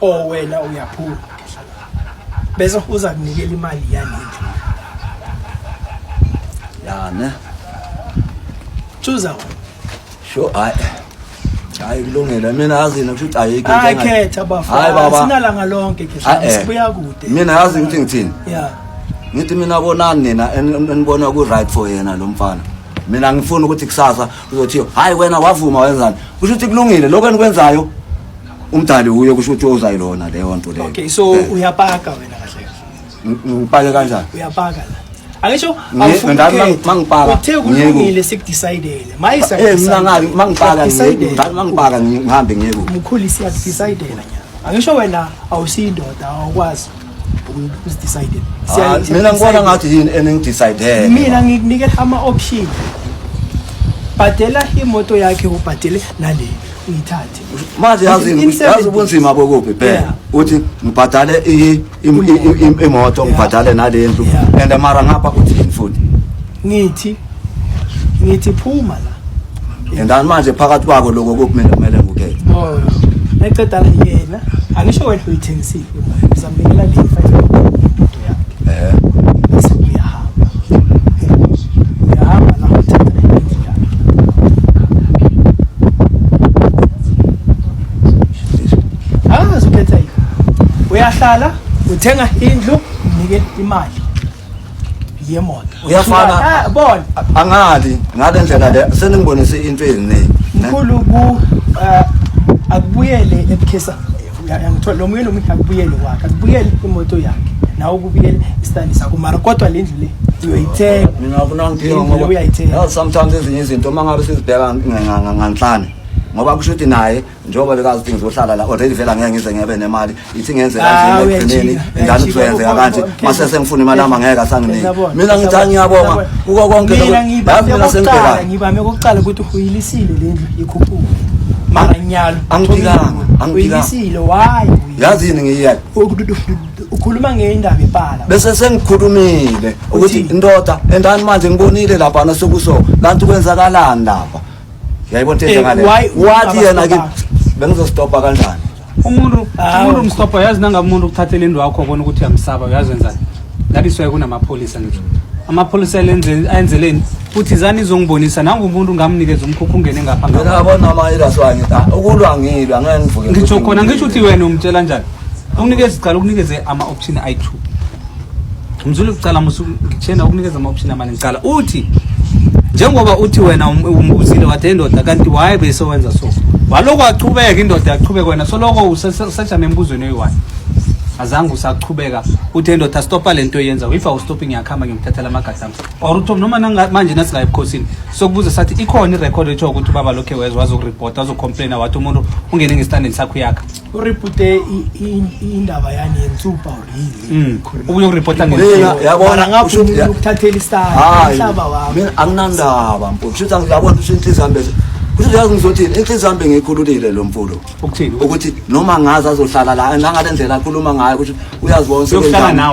oh wena uyaphula bese uza kunikela imali yanendlu yana chuza sho hayi hayi kulungile mina yazi ngisho ukuthi ayikho into hayi khetha bafana sinalanga lonke khetha eh. sibuya kude mina yazi ngithi ngithini yeah ngithi mina bonani nina enibona ku right for yena lo mfana mina ngifuna ukuthi kusasa uzothiyo hayi wena wavuma wenzani kusho ukuthi kulungile lokho enikwenzayo umdali uye kusho ukuthi ozayilona leyo nto leyo okay so eh. uyapaka wena kahle kahle ngipake kanjani uyapaka la angisho awufunkeuthe kulungile sikudecidele eh, mangipaka ngihambe ngiyekukhulisa iyakudecidela angisho wena awusiyi ndoda awukwazi usidecide Ah, mina ngibona ngathi yini eningidecide mina ngikunikela ama-option bhadela imoto yakhe ubhadele nale uyithathe manje yazi In- in seven yazi ubunzima bokuphi phela Yeah. uthi ngibhadale i- i- i- i- imoto ngibhadale nalendlu Yeah. and mara ngapha uthi yini futhi ngithi ngithi phuma la yendani manje phakathi kwako lokho kumele kumele ngukhethe oh eceda yena angisho wena uyithengisile uzamnikela le five eh uyahamba uyahamba la uthatha indlu yakhe angazi ukhetha yini uyahlala uthenga indlu unike imali yemoto uyafana bona angali ngale ndlela le seningibonise into eziningi mkhulu ku eh, akubuyele ebukhesa ngithola lo muyelo omuhle akubuyele kwakhe akubuyele imoto yakhe nawe ukubuyele isitandi sakho mara kodwa le ndlu le uyoyithenga mina ngifuna ngidinga ngoba uyayithenga sometimes ezinye izinto uma ngabe sizibheka nganhlane ngoba kusho ukuthi naye njengoba bekazi ukuthi ngizohlala la already vela ngeke ngize ngebe nemali ithi ngenze ah, kanje ekugcineni ngani kuzoyenzeka kanje mase sengifuna imali yami ngeke asanginike mina ngithi angiyabonga kuko konke lokho yazi mina sengibheka ngibame kokuqala ukuthi uyilisile le ndlu ikhuphuka manganyalo angibikanga angibikanga uyilisile why yazi yini ngiyiyeke ukhuluma ngendaba ibhala bese sengikhulumile ukuthi indoda endani manje ngibonile lapha nasukuso kanti kwenzakalani lapha Yayibona into enjengale. Eh, why- Wathi yena ke Abafana. bengizostopa kanjani? umuntu Hawu. umuntu umstopha uyazi nangabe umuntu ukuthathela indlu wakho ubona ukuthi uyamsaba uyazi wenzani that is why kunamapholisa ngisho amapholisa elenze- ayenzeleni futhi zani izongibonisa nangu umuntu ngamnikeza umkhukhu ungene ngapha Mina ngapha. abona ama iras wami. Ah, Ukulwa ngilwa ngeke ngivuke. ngitsho khona ngisho ukuthi wena umtshela njani unikeze cala ukunikeze ama-option ayi-two Mzulu ucala musu ngithena ukunikeza ama option amaningi cala uthi njengoba uthi wena um, umbuzile wathi indoda kanti why bese wenza so waloko aqhubeka indoda yaqhubeka wena soloko usajame embuzweni oyi-one azange usaqhubeka uthi endoda stopa le nto yenza if awustopi ngiyakuhamba ngiyomthathela amagadi ami or uthi noma manje nasingayi ebukhosini sokubuza sathi ikhona irekhodi etsho ukuthi ubaba lokhe wezwa wazokuripota wazocomplaina wathi umuntu ungene ngesitandeni sakho yakha uripute indaba yani yensupa mm. ubuye uripota ngeyabonakuthathela isitayilhlaba wami anginandaba mfo kushuthi angiyabona ukuthi inhliziyo yami bese kushuthi yazi ngizothini inhliziyo yami bengiyikhululile lo mfulo ukuthi noma ngazi azohlala la nangale ndlela akhuluma ngayo ukuthi uyazibona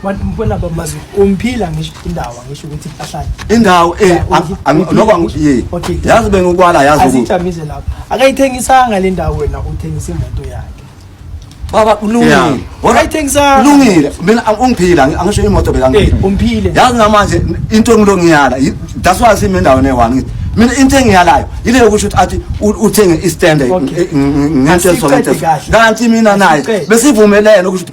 Abantu mbona bamazi umphila ngisho indawo ngisho ukuthi ipahlane. Indawo eh nokwa ye. Yazi bengikwala yazi ukuthi. Asijamize lapho. Akayithengisanga le ndawo wena uthengisa imoto yakhe. Baba ulungile. Wayithengisanga. Ulungile. Mina ungiphila angisho imoto bekangiphila. Eh, umphile. Yazi namanje into engilongiyala that's why simi ndawo ne-one ngithi mina into engiyalayo yile yokusho ukuthi athi uthenge istanda ngento ezolenteso kanti mina naye besivumelene ukuthi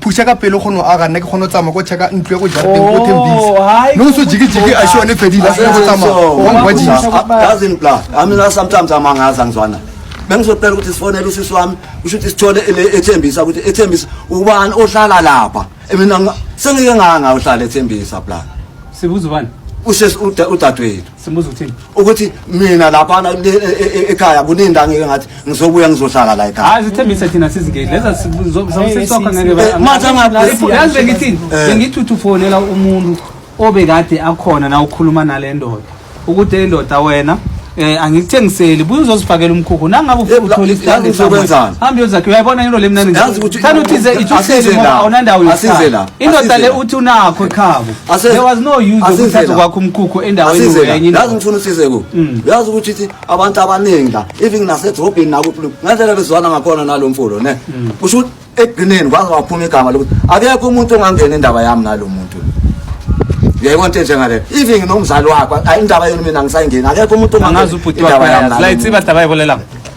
phuša ka pelo kgone go aga nna ke kgone go tsamaya ko checka ntlo ya ko jarateng ko tembisa Oh, hai, no so jikijiki a shone fedile a sone go tsamaya wa ngwajisa yazi ni bla amina sometimes amangazi angizwana bengizocela ukuthi sifonele usisi wami usho ukuthi sithole ele ethembisa ukuthi ethembisa ubani ohlala lapha mina nga- sengike nganga uhlala ethembisa bla sibuza ubani usisi uda- udadewethu Simbuza uthini? Ukuthi mina lapha e, e, e, ekhaya kuninda ngeke ngathi ngizobuya ngizohlala la ekhaya. Hayi sithembise thina sizingeli. Leza sizosokha ngeke ba. Eh, manje ngathi yazi bengithini? Eh. Bengithuthi ufonela umuntu obekade akhona na ukhuluma nalendoda. Ukuthi indoda wena eh angikuthengiseli buye uzozifakela umkhukhu nangabe ufuna uthola isithandwa sokwenzana hambe yozakhe uyayibona into lemnani thanda uthize ithuhlele ngoba awunandawo yosihlala indoda le uthi unakho ekhabo there was no use yokuthatha kwakho umkhukhu endaweni wenye yazi ngifuna usize ku mm. yazi ukuthi ithi abantu abaningi la even nasedrobheni nakuphi ngendlela bezwana ngakhona nalo mfolo ne mm. kusho ukuthi ekugcineni kwaze waphuma igama lokuthi akekho umuntu ongangena indaba yami nalo muntu uyayibona into enjengaleyo even nomzali wakho indaba yenu mina ngisayingeni akekho umuntu ongangena indaba yami la itsiba daba yibolelanga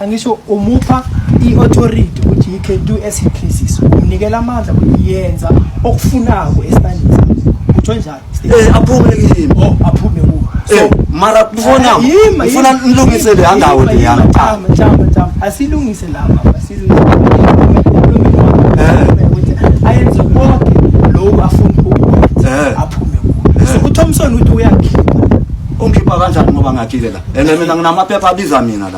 angisho umupha i-authority ukuthi he can do as he pleases umnikela amandla ukuthi yenza okufunako esibandini sakho utho njalo eh aphume kimi oh aphume kuwe so eh, mara kufona eh, ufuna nilungise le angawo le yana chama chama chama asilungise lama asilungise eh. ayenze konke lokho afuna ukwenza aphume kuwe so uThompson uthi uyakhipha ungikhipha kanjani ngoba ngakhile la and mina nginamaphepha abiza mina la